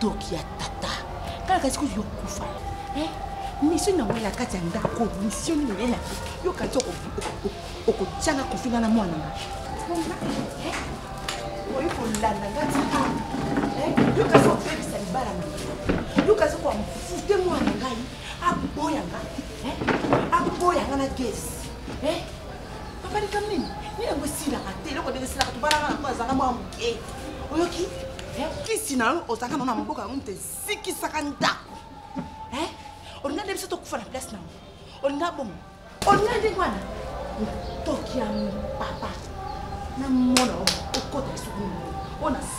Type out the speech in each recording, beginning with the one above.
toki ya tata kala kasi kutu yokufa eh, misio nango na kati ya ndako misio nini oyela yo kasi okotyanga kofinga na mwana nga eh, oyi kolanda nga tito eh, yo kasi obebisa libala na yo kasi okoamfute mwana ngai aboya nga aboya nga na gesi papa likambo nini nini yango esilaka te eloko ndenge esilaka tobalaka na mpo azalaka mwa moke oyoki kisi na yo ozalaka nao na maboko yango moto esikisaka ndako olinga nde biso tokufa na place na yango olinga bongo olinga ndenge wana toki ya papa na mona okota lisuku oyo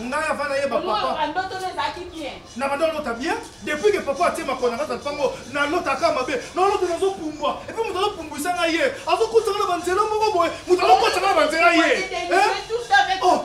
ngai ava nayeba papa na banda olota bien depuis ke papa atie makona kati na lipango nalotaka mabe nalota nazopumbwa epuis moto azopumbwisa ngai ye azokotaka na banzela moko boye moto azokotaka na banzela ye eh? oh.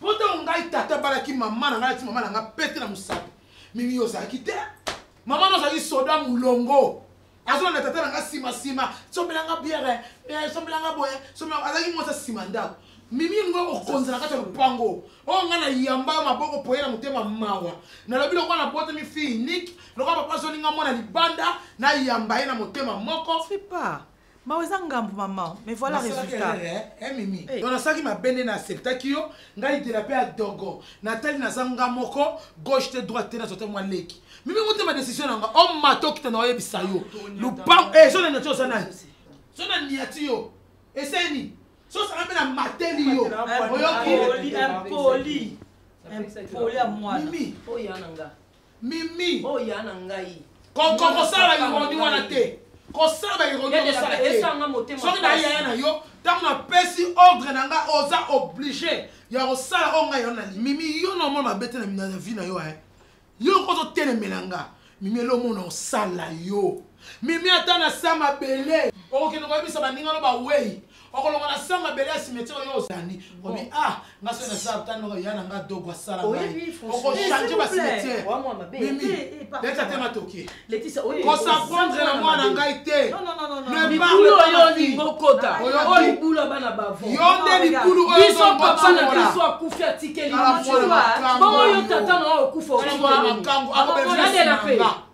mpo ntango ngai tata abalaki mama na ngai alati mama na ngai pete na mosapi mimi yo ozalaki te mama na ozalaki soda molongo azolanda tata na ngai nsima nsima sombelanga biere eh, sombelanga boye azalaki mwasi asima ndako mimi ngo okonzela kati ya lopango oyo oh, ngai na yamba yo maboko poye na motema mawa nalobi lokola na botemi fi unique lokola papa azolinga mwana libanda na yamba ye na motema moko mawa eza ngambo mama me voilà résultat eh, eh, mimi eh. donc nasalaki mabe nde na acceptaki yo ngai dela mpe ya dogo natali naza nga moko gauche te droite te nazwa te mwa leki mimi motema décision nanga o oh, mata okita na oyebisa yo lupango zona nati oza nani zona niati yo eseni sosanga mpe na mateli yo oyoki impoli impoli ya mwana oyo yananga mimi oyo ya na ngai kokosala ironi wana te kosala baironi okosala te soki na yaya na yo ntango napesi ordre na ngai oza oblige ya kosala oyo ngai yana mimi yo na omona mabe te na vi na yo e eh. yo okoki otelemela nga mimi elo omona osala yo mimi ata na sa mabele okokende koyebisa baninga no bawei okolonga na sa mabele ya cimetière oyo ozali obi ah nga soki naza tanoko ya na nga dogo asala ngai okochange ba cimetière leta te matoki kosaprendre na mwana ngai te libulu oyo olingi okota oyo libulu ya bana bavo yo nde libulu oyo biso papa na biso akufi atikeli bongo yo tata na oyo okufa okomakango akobebisa na nga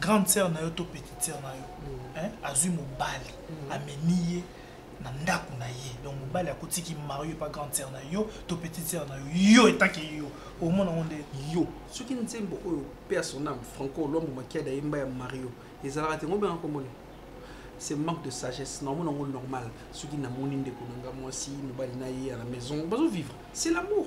grande sœur na yo to petite sœur na yo mm. hein, azui mobali mm. amemi ye na ndako na ye donc mobali akotiki mario epa grande sœur na yo to petite sœur na yo yo etake yo omona yango nde yo soki nzembo oyo pe ya son ame franco olombo makiada yemba ya mario ezalaka te ngobena komona c'est manque de sagesse naomona yango normal soki namoni ndeko na nga mwasi mobali na ye à la maison bazovivre c'est l'amour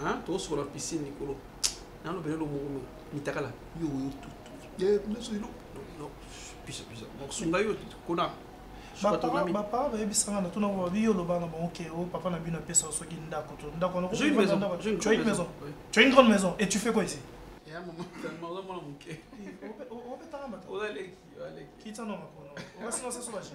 hein tosokola piscine likolo nano bele lo moko mitakala yo yo tutu ye nso ilo no pisa pisa mosunga yo kuna bapara bayebisanga na tuna babi yo oloba na bango ke o papa na bino apesa yo soki ndako to ndako yango tu as une maison tu as une grande maison et tu fais quoi ici obetanga mata kitano makono obasina saso baje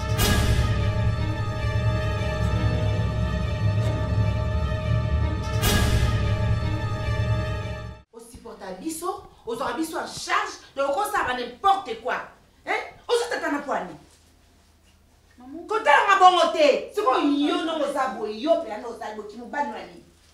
ozwaka biso en charge donc okosaka n'importe quoi ozotata na pwani kotalanga bongo te sikoyo yo ndongo oza boye yo mpe yango ozali boki mobali na nini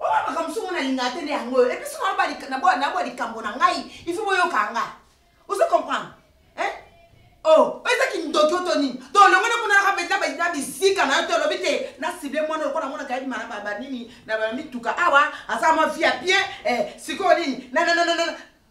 oyo makambo songo nalingaka te nde yango oyo epuis songo nabwa likambo na ngai ifo boyoka nga ozo comprendre o oh, oyo eza kindoki oto nini to olongoni kuna naka mpenza na bizika na yo te olobi te na sible mwana lokola monaka yebima na banini na bamituka awa aza mwa vie ya bien eh, sikoyo nini nanananana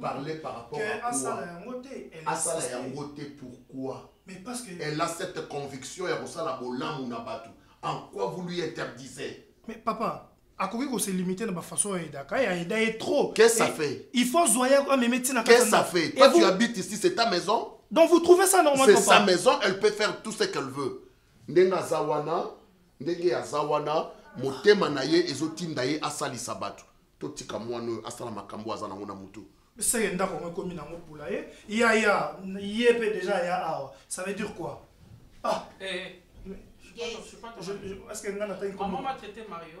parlait par rapport à asala yango te pourquoi elle a cette conviction ya kosala bolamu na bato en quoi vous lui interdisez mais papa akoki kose limite na bafaçon ya edaka ya eda ye trop qu'est ça fait il faut zoya yako ameme ntina qu'est ça fait toi tu habites ici c'est ta maison donc vous trouvez ça normal c'est sa maison elle peut faire tout ce qu'elle veut ndenge aza wana ndenge aza wana motema na ye ezotinda ye asalisa bato totika mwana oyo asala makambo aza nango na motu seke ndako yango ekomi nango pula ye ya ya ye mpe deja ya awa ça veut dire quoi ah eh, eh. Je, je, je, je, est-ce que Nana t'a dit comment Maman m'a traité Mario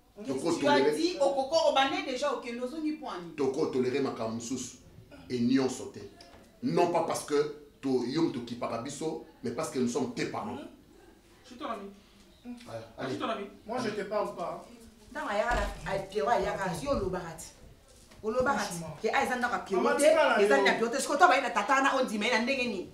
tokotolere makambo mosusu e nyonso te non pas parce que yo moto okipaka biso mais parce que nous sommes tes parents Allez. Moi je te parle pas. Dans ma yara, elle te voit, yara, si on l'obarate. olobaka te eza ndako ya piote eza ndako ya piote soki oto abayi na tata wana ondima ye na ndenge nini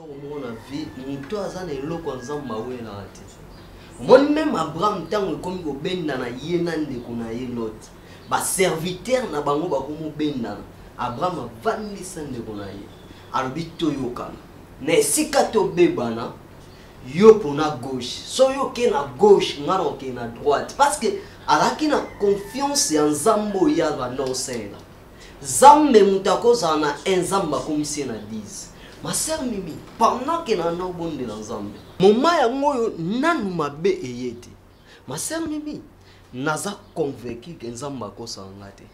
eloko moko na vie moto aza na eloko ya nzambe mawelaka te omoni meme abraham ntango ekomi kobendana ye na ndeko na ye lot baservitere na bango bakomobendana abraham avandisa ndeko na ye alobi toyokana na esika tobebana yo mpona gauche so yo oke na gauche ngai na oke na droite parce que azalaki na confiance ya nzambe oyo ya banda osengela zambe moto akozala na un nzambe akomisi ye na 10 ma sœur mimi pendant ke na naobondela nzambe moma yango oyo nanu mabe eye te ma sœur mimi naza convaincu ke nzambe akosaka nga te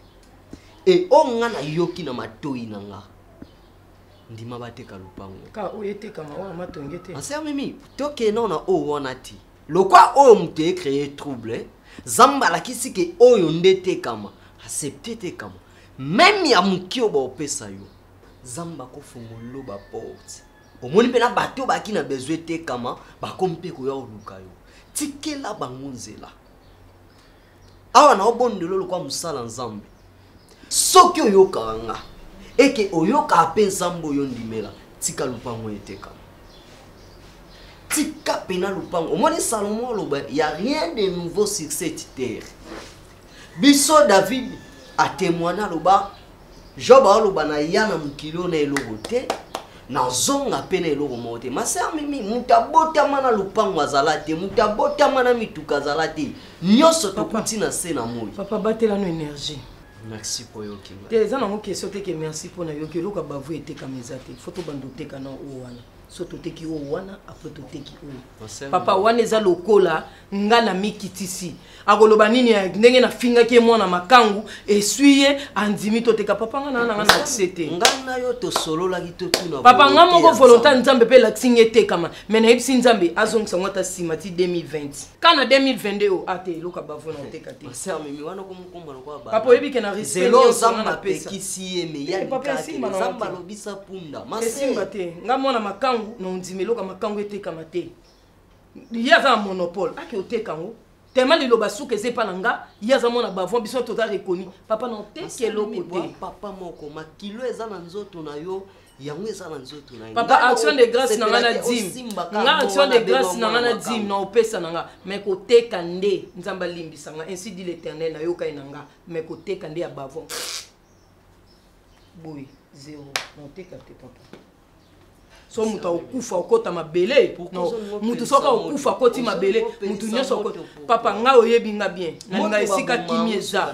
e oyo nga nayoki na matoi na nga ndima bateka lopango ma sœur mimi tokende na oyo wana ti lokwa oyo moto e créer trouble zamba alakisi ke oyo nde tekama accepte tekama meme ya moke oyo baopesa yo zamba akofongolelo baporte omoni mpe na bato baki na besoin etekama bakomi mpe koya koluka yo tikela bango nzela awa na obondelo lokola mosala nzambe soki oyokaka nga eke oyokaka mpe nzambe oyo ndimela tika lopango eteka tika pena lopango omoni salomo aloba ya rien de nouveau sur cette terre biso david atemoine aloba job aoloba na ya na mokili oyo na eloko te nazonga mpe na eloko moko te maser mimi moto abotama na lopango azala te moto abotama na mituka azala te nyonso tokuti na se na moi papa batelano énergie merci mpo oyoki te eza nango question te ke merci mpo nayoki eloko ya bavu etekama eza te fo tobanda oteka na oyo wana so toteki oyo wana apres toteki oyo papa wana eza lokola nga na mikitisi akoloba nini ya ndenge nafingaki ye mwana makangu eswi ye andimi toteka papa nga naa nanga na akse te papa nga moko volonté ya nzambe mpe elakisi nga etekama me nayebisi nzambe azongisa ngo ata nsima ti 2020 ka na 2022 oyo ate eloko ya bavona oteka te papa oyebi ke na riseloo zamba apekisi ye meyazamba eh, alobisa punda esimba te nga mwana makangu na ondima eloko ya makangu etekama te ye aza na monopole ake oteka yango tema liloba suka eza epa na nga ye aza mwana bavon biso toza reconi papa na oteki eloko te papa moko makilo eza na nzoto na yo yango eza na nzoto na papa action de grâce na nga na dime nga action de grâce na nga na dime na opesa na nga mais koteka nde nzambe alimbisa nga ainsi dit l'éternel nayoka ye na nga mais koteka nde ya bavon boye zero na oteka te papa so moto akokufa okota mabele moto soki akokufa akoti mabele moto nyonso papa ngai oyebi nga bien nalinga esika kimi eza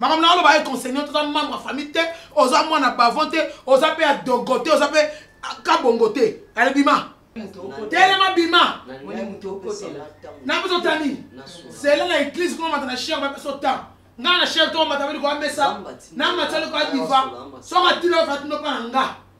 makambo na oloba econsegne oza membre ya famille te oza mwana bavon te oza mpe ya dogo te oza mpe kabongo te ale bima telema bima napesa ota nini zela na eglise kuna mata na shere bapesa ota ngai na shere to mata beli koya mesa na mata likoya diva soka tilo fatino mpa na nga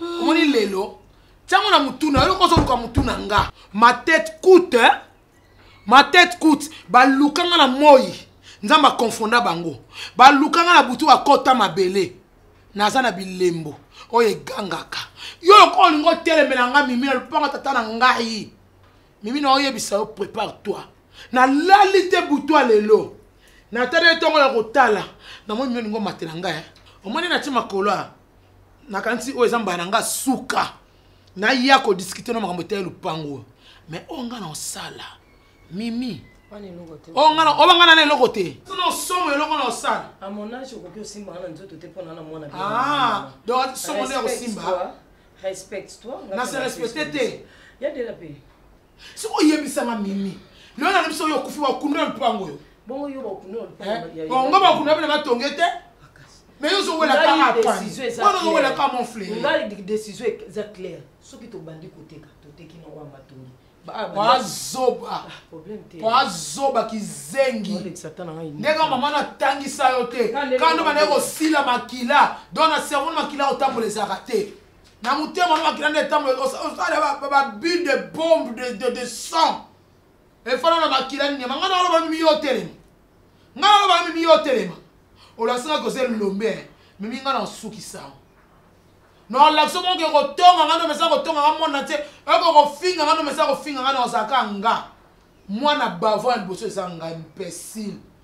omoni lelo ntango na motuna yo loko ozoluka motuna nga ma tete coute eh? ma tete coute baluka nga na moi nzambe akonfonda bango baluka nga na butu bakota mabele naza na bilembo oyo egangaka yo lokola olingi otelemela nga mimi na lopanga tata na ngai mimi na oyebisa yo prépare toi nalali te butwa lelo natali etongo ya kotala namoni mimi olingi omatela ngai eh? omoni nati makolo a nakanisi oyo eza mbala na nga suka naya kodiskute na makambo etali lopango oyo mais oyo nga na osala mimi oyo nga oba nga nana eloko te na osomo eloko na osala ah, donc somo nde ya kosimba na se respecte te siko oyebisa nga mimi lelo na biso oyo okufi bakunda lupango oyo bongo yo bakunda lupango bongo eh? bakunda bana batonge te mais yo ozowela kaka apani wana ozowela kaka mon frère ngai décision eza claire soki tobandi koteka toteki na oyo matongi wazoba wazoba kizengi ndenge mama natangisa yo te kando bandaki kosila makila don na cerveau na makila otambola ezalaka te na motema no makila nde etambola osala babule de bombe de, de, de sang efana na makila nyama ngai naloba mimi yo otelema ngai naloba mimi yo otelema olasinga koza elombe mimi ngai nasukisango nolakisa moko ke kotonga ngai nomesa kotonga ngai mwana te oko kofinga ngai nomesa kofinga ngai naozalaka nga mwana bavant ya liboso eza ngai mpesile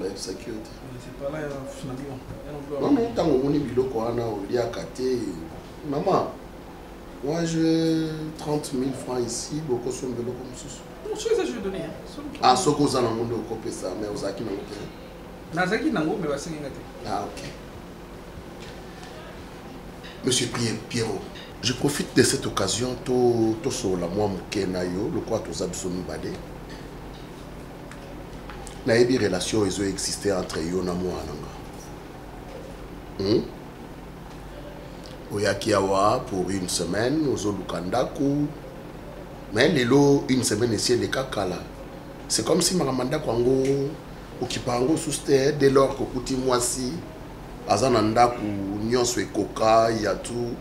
bayebisaki yo te mama ntango omoni biloko wana oliaka te mama moi je 30 000 francs ici bokosomba eloko mosusu ah soki oza nango nde okopesa mais ozalaki nango te nazalaki nango me basengi nga te ah ok monsieur pierrot je profite de cette occasion tosolola mwa moke na yo lokola toza biso mibale nayebi relation ezo existe entre yo na mwana nga hmm? oyaki awa pour une semaine ozoluka ndako mais lelo une semaine esi eleka kala c'est comme si makambo ya ndako yango okipa yango susu te dès lors kokuti mwasi aza na ndako nyonso ekoka ya tout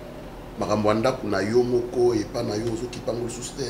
makambo ya ndako na yo moko epa na yo ozokipa yango lisusu te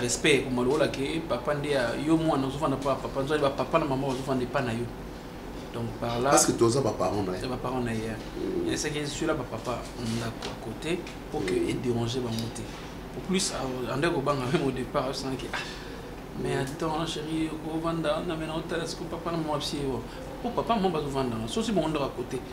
respect ekoma lokola ke papa nde yo mwana ozofanda mpo ya papa nzwani bapapa na mama bazofanda epa na yo donc par là parce que toza baparent na ye baparent na ye mm. esaki eswila bapapa ndako à côté mpo ke mm. edérange bango te au plus ande kobanga meme au départ asanaki ah mais mm. attends chéri okovanda na mena otala siko papa na mama bisi yo mpo papa mama bazovanda na sosi bango ndako à côté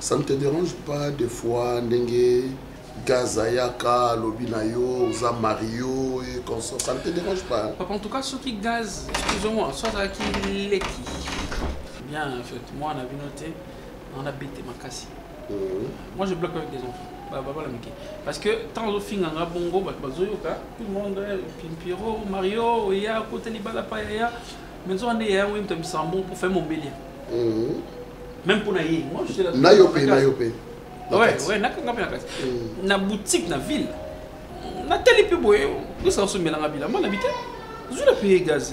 Ça ne te dérange pas des fois ndenge gaz ayaka alobi na yo oza mario et consort ça ne te dérange pas papa en tout cas soki gaz excusez-moi so azalaki leki bien en fait moi na bino te on a bête makasi mhm. moi je bloque avec des enfants babala mike parce que ntango ozofinga nga bongo bato bazoyoka tout le monde eh, pimpiro mario oya akota libala pa yaya mais nzoka nde yayango ye moto ya misambo mpo fai mombelia mhm. même mpo na ye nayo mpe nayo mpe nakanga mpe na kati mhm. na boutique na ville natali mpe boye prese asombelanga bilamba na bite zula mpe ye gaz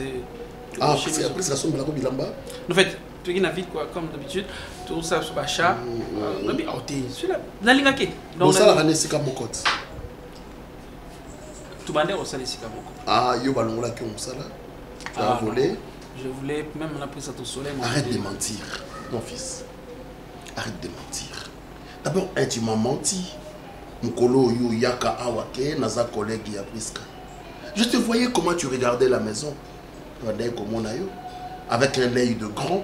prese ah, asombelako bilamba en fait toki na ville quoi comme d'habitude tosala biso bachat mhm. euh, nabi aote ah, zula nalingaki osalaka na esika moko te tubande osala esika moko ah yo balongolaki yo mosala ah, volé je voulais même la prise à ton soleil arrête de mentir mon fils arrête de mentir d'abord eh, tu m'as menti mokolo oyo oyaka awa ke naza collègue ya priska je te voyais comment tu regardais la maison bandaki komona yo avec un œil de grand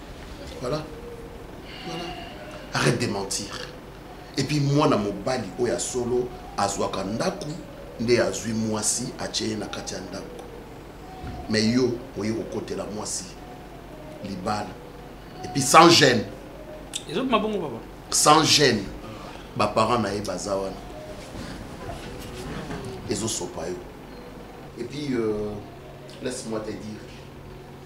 voilà voilà arrête de mentir et puis moi na mobali oyo solo azwaka ndaku nde azwi mwasi atye ye na kati ya ndako me yo oye kokotela mwasi libala epuis sans gêne ezobima bongo baba sans gêne baparent na ye baza wana ezosopa yo epuis euh, laisse moi te dire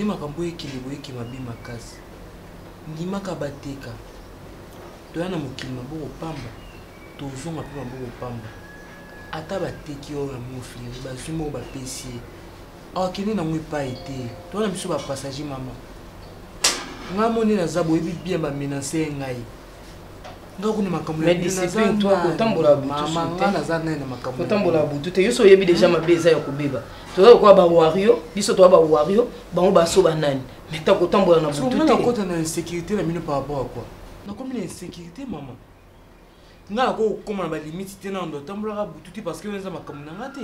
nde makambo ekende boyeke mabe makasi ndimaka bateka toya na mokili maboko pamba tozonga mpe maboko pamba ata bateki oyo yango oflere bazwi moko bapesi ye akende nango epai te towana biso bapassage mama ngai moni naza boyebi bien bamenase ye ngai ngai kuna makambo naza nai na makambokotambola butu te yoso oyebi deja mabe eza ya kobeba toza lokola bawario biso toza bawario bango baso banani meta kotambola na butu te nakota na insécurité na bino par rapport ya kua nakomi na insécurité mama ngai nakoki kokoma na balimite te na ndo atambolaka butu te parce que eza makambo na ngai te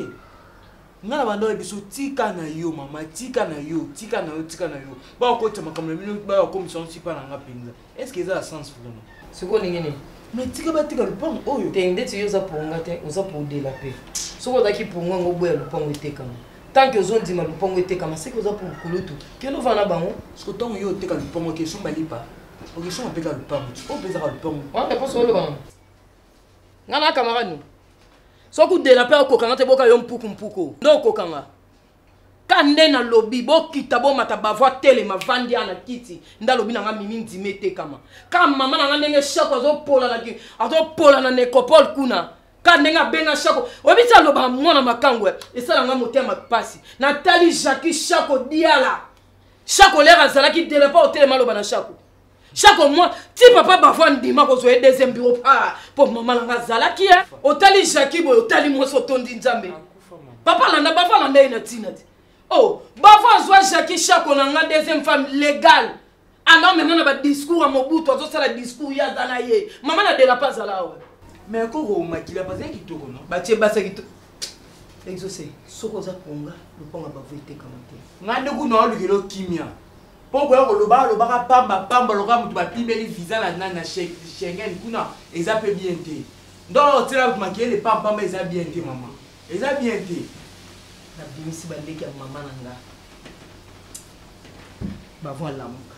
ngai na banda oyo biso tika na yo mama tika na yo tika na yo tika na yo bakokotisa makambo na bino bakokomisa yango sipa na ngai mpenza est ce que eza ya sens vraiment sikoyo ndenge nini mais tika batika lopango oyo te ndeti yo oza ponga te oza podela mpe soki ozalaki ponga yango oboya lopango etekama tant que ozondima lopango etekama seke oza kulutu kende ovanda bango siko ntango yo oteka lopango ke somba lipa okesonga mpe kaka lupangu oyo mpe ezaka lupangu wampe mposo oloba ngo nga na camarade no soki udela mpe okokanga te boka yo mpuku mpuku nde okokanga ka nde nalobi bokita bomata bavo atelema vandi ya na kiti nde alobi na nga mimi ndima etekama ka mama na nga ndenge shako azopola na necopole kuna ka ndenge abenga shako oyebi ti aloba mwana makango esala nga motema mpasi natali jacki shako diala shako lere azalaki de lepa otelema aloba na shako shako mwa ti papa bavo andima kozwa ye deuxième bureau pa mpo mama nanga azalaki ye otali jaki boye otali mwasi otondi nzambe papa alanda bavo alanda ye na ntina te o oh, bavo azwa jaki shako na nga deuxième femme légale alors mema na badiscours ya mobutu azosala discours ye aza na ye mama na delapa azala awa mais koko makila bazali kitoko no batie basa kitoko exauce soki oza konga lopango ya bavo etekama te ngai nde kuna olukela okimia mpo koya koloba alobaka pamba pamba lokola moto bapimeli visa na nani na schengen kuna eza mpe bien te donc otyela bato makele pampamba eza bien te mama eza bien te nabimisi bandeki ya mama na nga bavo alamuka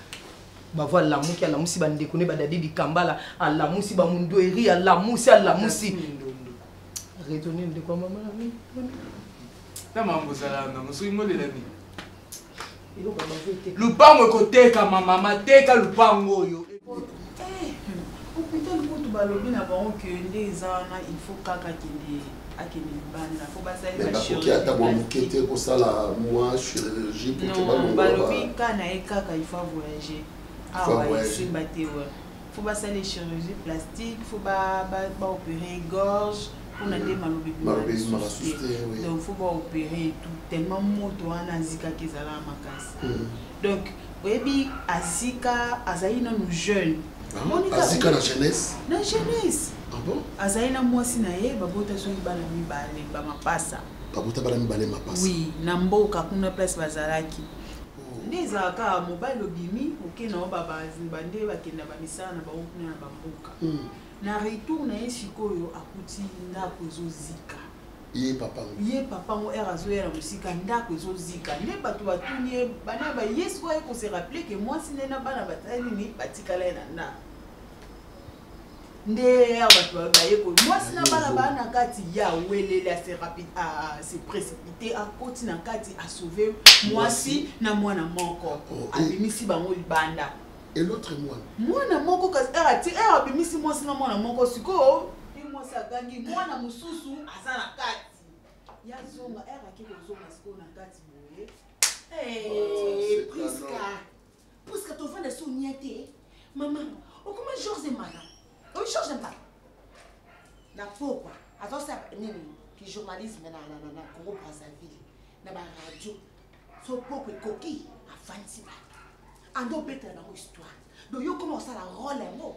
bavo alamuki alamusi bandeko ne badadi dikambala alamusi bamundueri alamusi alamusi retoni ndeko ya mama na bino na mambo ozalaka nango soki molela nini lupango ekotekama mama teka lupango oyo hôpital eh, kutu balobi na bango ke nde eza wana il faut kaka kende akende libanda po basalibakoki ata mwa moke te kosala mwa chirurgie pote balobalobi ka na ye kaka il faut voyage awa esimba te faut basala chirurgie plastique faut baopere gorge mpona nde maloba ebimamasusu donc faut baopere etout tellement moto wana azikaki ezalaka makasi hmm. donc oyebi azika azali nanu jeune ah, azika na jeunesse na jeunesse ah azali na mwasi na ye babota soki bana mibale bamapasa babota bana mibale mapasa oui na mboka kuna place bazalaki nde ezalaka mobali obimi oke na yo babande bakenda bamisala na bango kuna na bamboka hmm. na retour na ye sikoyo akuti ndako ezozika ye papa ngo ye papa ngo ere azoya na mosika ndako ezozika nde bato batuni ye bana baye sikoyo ye kose rappele ke mwasi nde na bana batali nini batikala ye na ndako nde ya bato bayekoli mwasi na bana baa na kati ya welele ase précipité akoti na kati asauve mwasi na mwana moko oh, eh. abimisi bango libanda et l'autre mwana mwana moko kasi eh, ati eh, abimisi mwasi na mwana moko sikoyo mwasi agangi mwana mosusu aza na kati ya zonga ake kozonga sikoyo na kati boye priska Puisque ton frère est niente, maman, on comment Georges est malade On change pas. La pauvre, avant ça, nini, qui journalisme na na na na Congo Brazzaville, na ba radio, son pauvre coquille a fancy ba. Ando beta na histoire. Donc yo comment ça la rôle en mot